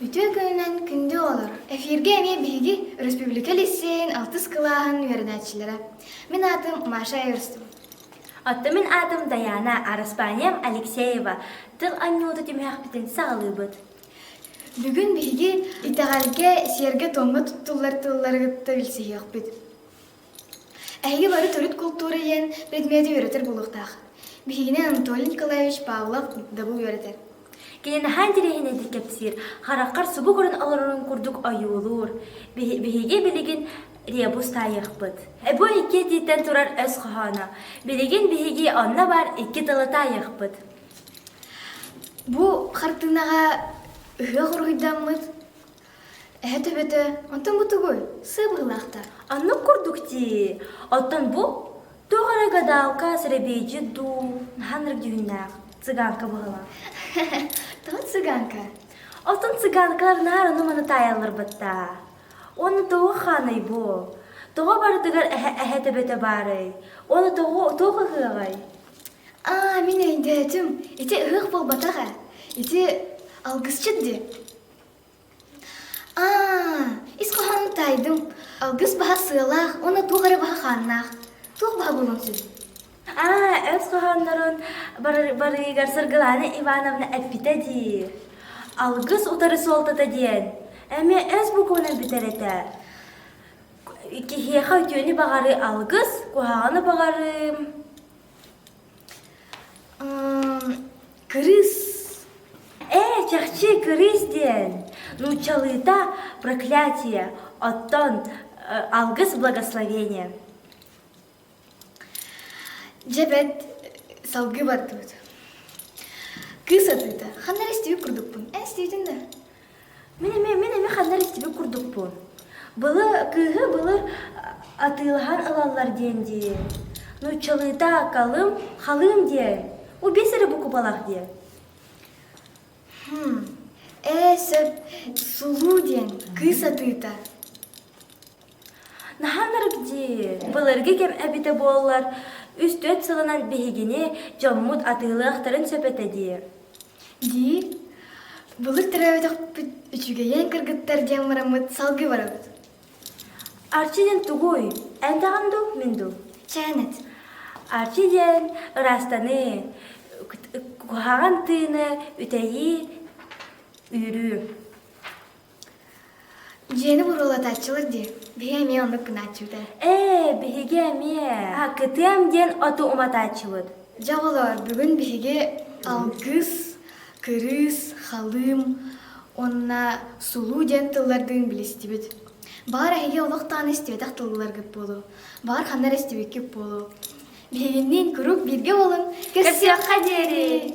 Үтүө күнүнэн күндү оҕолор! Эфиргэ эмиэ биһиги өрөспүүбүлүкэ лиссиэйин алтыс кылааһын үөрэнээччилэрэ. Мин аатым Маша Эверстова. Оттон мин аатым Даяна, араспаанньам Алексеева. Тыл анньыыты түмүһэхпитин саҕалыыбыт. Бүгүн биһиги итэҕэлгэ, сиэргэ-туомҥа туттуллар тыллары кытта билсиһиэхпит. Эһиги бары төрүт култуура иһин предмети үөрэтэр буолуохтаах. Биһигини Анатолий Николаевич Павлов дабыл үөрэтэр. Кини наһаа интэриэһинэйдик кэпсиир, хараххар субу көрөн олорорун курдук ойуулуур. Биһиги билигин ребус таайыахпыт. Эбу икки этииттэн турар өс хоһооно. Билигин биһиги онно баар икки тылы таайыахпыт. Бу хартыынаҕа ыһыах уруһуйдаммыт Эһэ төбөтө онтон бу тугуй? Сыабыллаахтар. Оннук курдук дии. Оттон бу туох эрэ гадалка, сэрэбиэйдьит дуу, наһаа ынырык дьүһүннээх цыганка быһыылаах. Тоҕо цыганка? Оттон цыганкалар наар ону-маны таайалларбыттаа. Уонна тоҕо хааный бу? Тоҕо барытыгар эһэ эһэ төбөтө баарый? Уонна тоҕо туох ыһыаҕай? Аа, мин өйдөөтүм. Ити ыһыах буолбатах ээ. Ити алгысчыт дии. ис хоһоон таайдым алгыс баһа сыалаах уонна туох эрэ баһа хааннаах туох баһа буолуон сөп ис хоһооннорун барыыгар сыргылаана ивановна эппитэ дии алгыс утары суолтата диэн эмиэ ис букуунан бүтэр этэ киһиэхэ үтүөнү баҕарыы алгыс куһаҕаны баҕарыым кырыыс ээ чахчы кырыыс диэн нууччалыыта проклятие оттон алгыс благословение дьэ бэрт салгыы бардыбыт кыыс атыыта ханна эрэ истибит курдукпун эн истибитиҥ да Мин эмиэ, мин эмиэ ханнар истибит курдукпун. Былы, кыыһы былыр атыылаһан ылаллар диэн дии. Нууччалыыта калым, халыым диэн. У биэс эрэ букубалаах диэн. Ээ, сөп, сулуу диэн кыыс атыыта. Наһаанарык дии, былыргы кэм эбитэ буоллар, үс-төрүт сылынан биһигини дьоммут атыылыахтарын сөп этэ дии. Дии, былыр төрөөбөтөхпүт үчүгэйэн кыргыттар диэн бараммыт салгыы барабыт. Арчи диэн тугуй? Энтэҕин дуу, мин дуу? Чээнэт. Арчи диэн ыраастаныы, куһаҕан тыыны үтэйии, үүрүү. Дьиэни буруулатааччылар дии. Биһи эмиэ оннук гынааччыыта. Ээ, биһиги эмиэ акытыам диэн оту уматааччыбыт. Дьэ оҕолоор, бүгүн биһиги алгыс, кырыыс, халыым уонна сулуу диэн тыллардыын билистибит. Баҕар эһиги олох даҕаны истибэтэх тылларгыт буолуо. Баҕар ханна эрэ истибиккит буолуо. Биһигинниин куруук бииргэ буолун. Көрсүөххэ диэри!